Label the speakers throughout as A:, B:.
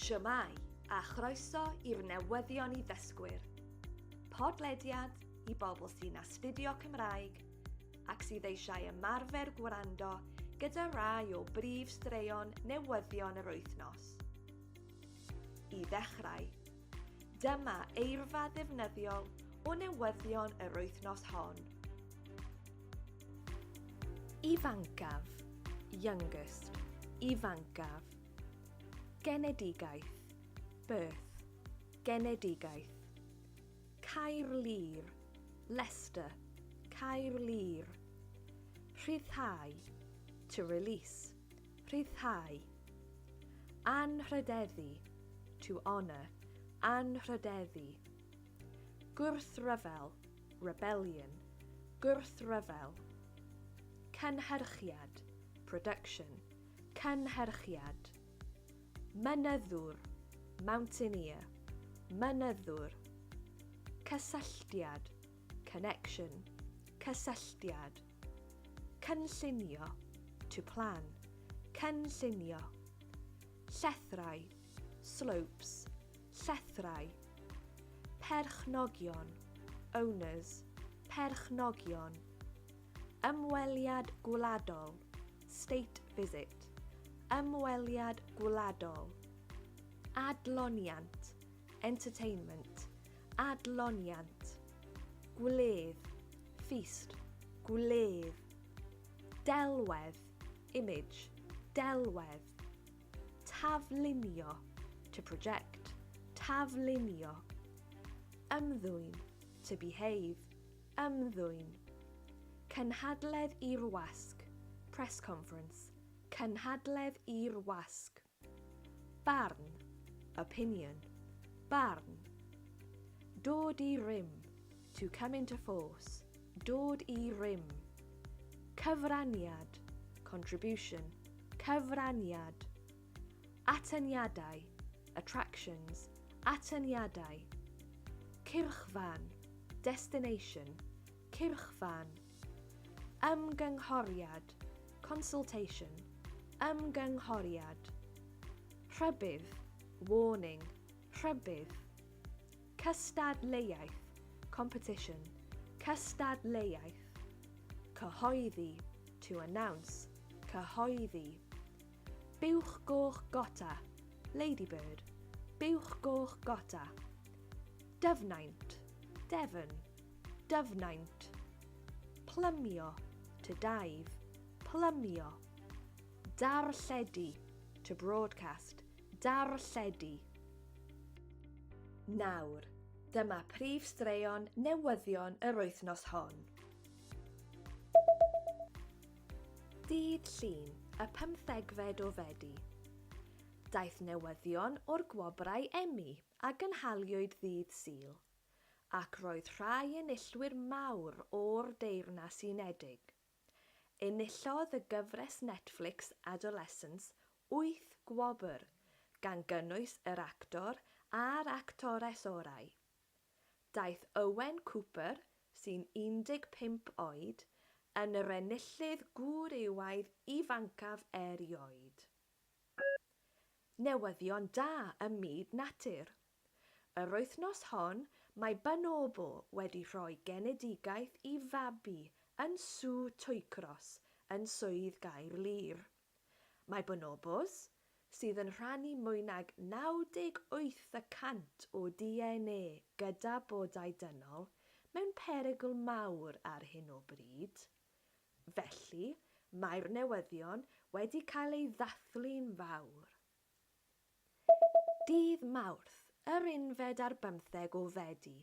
A: Shwmae, a chroeso i'r newyddion i ddysgwyr. Podlediad i bobl sy'n astudio Cymraeg ac sydd eisiau ymarfer gwrando gyda rai o brif straeon newyddion yr wythnos. I ddechrau, Dyma eirfa ddefnyddiol o newyddion yr wythnos hon. Ifancaf, youngest, ifancaf. Genedigaeth, birth, genedigaeth. Caerlŷr, Leicester, Caerlŷr. Rhyddhau, to release. Rhyddhau. Anrhydeddu, to honour, anrhydeddu. Gwrthryfel, rebellion, gwrthryfel. Cynhyrchiad, production, cynhyrchiad. Mynyddwr, mountaineer, mynyddwr. Cysylltiad, connection, cysylltiad. Cynllunio, to plan, cynllunio. Llethrau, slopes, llethrau. Perchnogion, owners, perchnogion. Ymweliad gwladol, state visit, ymweliad gwladol. Adloniant, entertainment, Adloniant. Gwledd. Feast. Gwledd. Delwedd. Image. Delwedd. Taflunio. To project. Taflunio. Ymddwyn. To behave. Ymddwyn. Cynhadledd i'r wasg. Press conference. Cynhadledd i'r wasg. Barn, opinion, barn. Dod i rym, to come into force, dod i rym. Cyfraniad, contribution, cyfraniad. Atyniadau, attractions, atyniadau. Cyrchfan, destination, cyrchfan. Ymgynghoriad, consultation, ymgynghoriad. Rhybudd, warning, rhybudd. Cystadleuaeth, competition, cystadleuaeth. Cyhoeddi, to announce, cyhoeddi. Buwch goch gota, ladybird, buwch goch gota. Dyfnaint, Devon. Dyfnaint. Plymio, to dive, plymio. Darlledu, to broadcast, darlledu. Nawr, dyma prif straeon newyddion yr wythnos hon. Dydd Llun, y pymthegfed o Fedi. Daeth newyddion o'r gwobrau Emmy a gynhaliwyd ddydd Sul. ac roedd rhai enillwyr mawr o'r Deyrnas Unedig. Enillodd y gyfres Netflix Adolescence wyth gwobr, gan gynnwys yr actor a'r actores orau. Daeth Owen Cooper, sy'n 15 oed, yn yr enillydd gwrywaidd ifancaf erioed. Newyddion da ym myd natur. Yr wythnos hon, mae Bonobo wedi rhoi genedigaeth i fabi yn Sŵ Twycross yn Swydd Gaerlŷr. Mae bonobos, sydd yn rhannu mwy nag 98 y cant o DNA gyda bodau dynol, mewn perygl mawr ar hyn o bryd. Felly, mae'r newyddion wedi cael eu ddathlu'n fawr. Dydd Mawrth, yr unfed ar bymtheg o Fedi,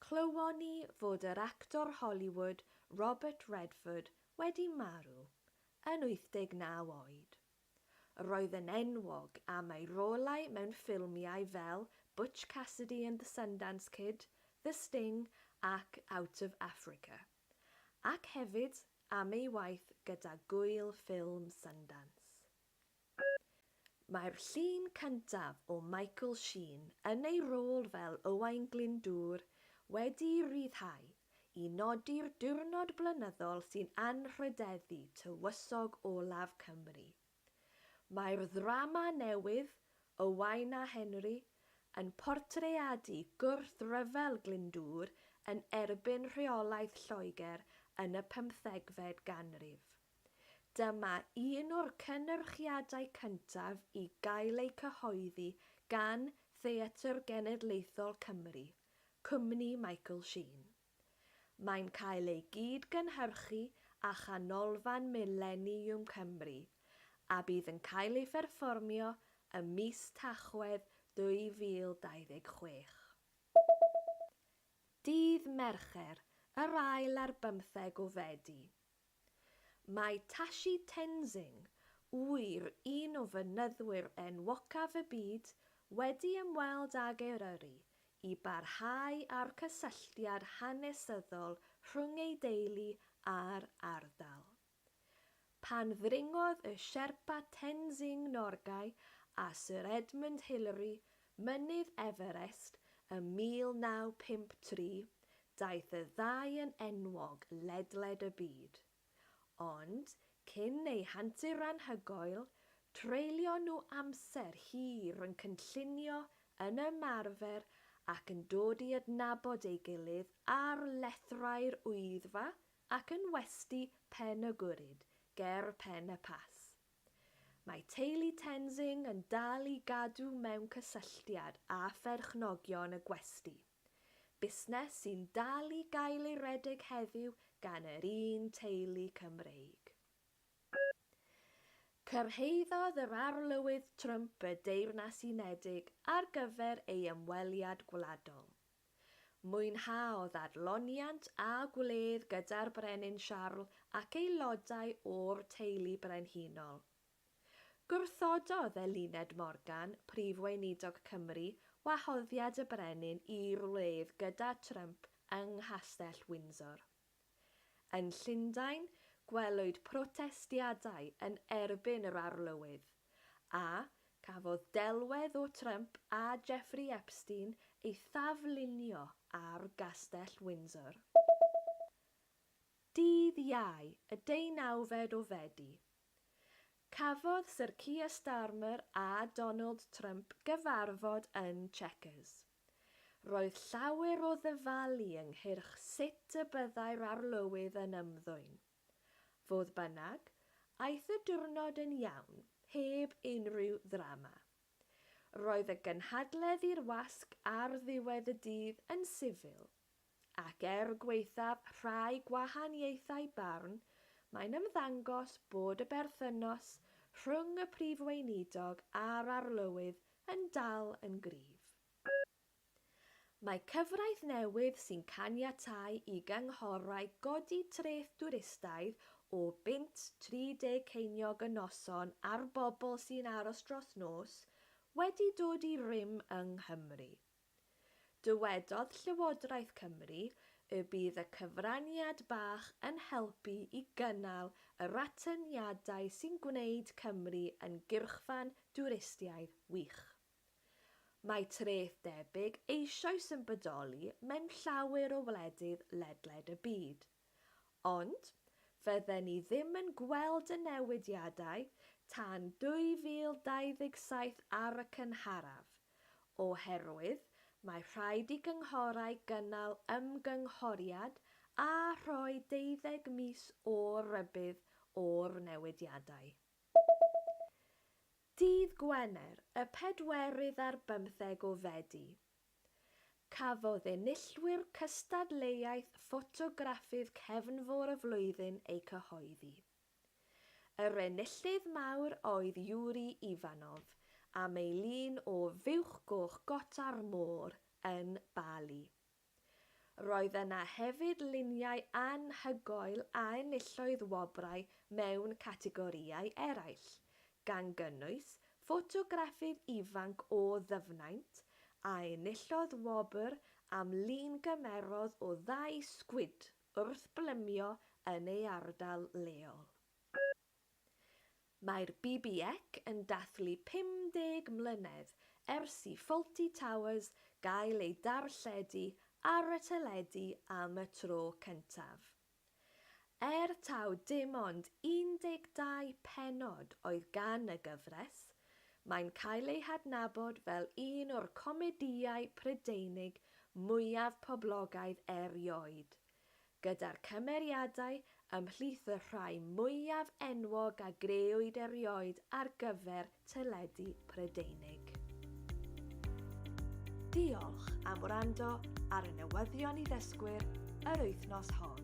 A: clywon ni fod yr actor Hollywood Robert Redford wedi marw, yn 89 oed. Yr oedd yn enwog am ei rolau mewn ffilmiau fel Butch Cassidy and the Sundance Kid, The Sting ac Out of Africa, ac hefyd am ei waith gyda Gŵyl Ffilm Sundance. Mae'r llun cyntaf o Michael Sheen yn ei rôl fel Owain Glyndŵr wedi'i ryddhau i nodi'r diwrnod blynyddol sy'n anrhydeddu tywysog olaf Cymru. Mae'r ddrama newydd, Owain a Henry, yn portreadu gwrthryfel Glyndŵr yn erbyn rheolaeth Lloegr yn y pymthegfed ganrif. Dyma un o'r cynyrchiadau cyntaf i gael eu cyhoeddi gan Theatr Genedlaethol Cymru, cwmni Michael Sheen. Mae'n cael ei gyd-gynhyrchu â Chanolfan Mileniwm Cymru, a bydd yn cael ei pherfformio ym mis Tachwedd 2026. Dydd Mercher, yr ail ar bymtheg o Fedi. Mae Tashi Tenzing, ŵyr, un o fynyddwyr enwocaf y byd, wedi ymweld ag Eryri i barhau â'r cysylltiad hanesyddol rhwng ei deulu a'r ardal. Pan ddringodd y Sherpa Tenzing Norgay a Sir Edmund Hillary Mynydd Everest ym 1953, daeth y ddau yn enwog ledled y byd. Ond, cyn eu hantur anhygoel, treulio nhw amser hir yn cynllunio, yn ymarfer ac yn dod i adnabod ei gilydd ar lethrau'r Wyddfa ac yn westy Pen-y-gwrhyd ger Pen-y-Pass. Mae teulu Tenzing yn dal i gadw mewn cysylltiad â pherchnogion y gwesty, busnes sy'n dal i gael ei redeg heddiw gan yr un teulu Cymreig. Cyrhaeddodd yr Arlywydd Trump y Deyrnas Unedig ar gyfer ei ymweliad gwladol. Mwynhaodd adloniant a gwledd gyda'r Brenin Siarl ac aelodau o'r teulu brenhinol. Gwrthododd Eluned Morgan, Prif Weinidog Cymru, wahoddiad y Brenin i'r wledd gyda Trump yng Nghastell Windsor. Yn Llundain, gwelwyd protestiadau yn erbyn yr Arlywydd, a cafodd delwedd o Trump a Jeffrey Epstein ei thaflunio ar Gastell Windsor. Dydd Iau, y deunawfed o Fedi, cafodd Sir Keir Starmer a Donald Trump gyfarfod yn Chequers. Roedd llawer o ddyfalu ynghyrch sut y byddai'r arlywydd yn ymddwyn. Fodd bynnag, aeth y diwrnod yn iawn, heb unrhyw ddrama. Roedd y gynhadledd i'r wasg ar ddiwedd y dydd yn sifil. Ac er gwaethaf rhai gwahaniaethau barn, mae'n ymddangos bod y berthynas rhwng y Prif Weinidog a'r Arlywydd yn dal yn gryf. Mae cyfraith newydd sy'n caniatáu i gynghorau godi treth dwristaidd o bunt 30 ceiniog y noson ar bobl sy'n aros dros nos wedi dod i rym yng Nghymru. Dywedodd Llywodraeth Cymru y bydd y cyfraniad bach yn helpu i gynnal yr atyniadau sy'n gwneud Cymru yn gyrchfan dwristiaidd wych. Mae treth debyg eisoes yn bodoli mewn llawer o wledydd ledled y byd. Ond, fydden ni ddim yn gweld y newidiadau tan 2027 ar y cynharaf, oherwydd mae rhaid i gynghorau gynnal ymgynghoriad a rhoi deuddeg mis o rybudd o'r newidiadau. Dydd Gwener, y pedwerydd ar bymtheg o Fedi, Cafodd enillwyr cystadleuaeth ffotograffydd Cefnfor y Flwyddyn eu cyhoeddi. Yr enillydd mawr oedd Yuri Ivanov am ei lun o Fuwch Goch Gota'r Môr yn Bali. Roedd yna hefyd luniau anhygoel a enillodd wobrau mewn categorïau eraill, gan gynnwys ffotograffydd ifanc o Ddyfnaint a enillodd wobr am lun gymerodd o ddau sgwid wrth blymio yn ei ardal leol. Mae'r BBEC yn dathlu 50 mlynedd ers i Fawlty Towers gael ei darlledu ar y teledu am y tro cyntaf. Er taw dim ond 12 pennod oedd gan y gyfres, mae'n cael ei hadnabod fel un o'r comedïau Prydeinig mwyaf poblogaidd erioed, gyda'r cymeriadau ymhlith y rhai mwyaf enwog a grëwyd erioed ar gyfer teledu Prydeinig. Diolch am wrando ar y newyddion i ddysgwyr yr wythnos hon.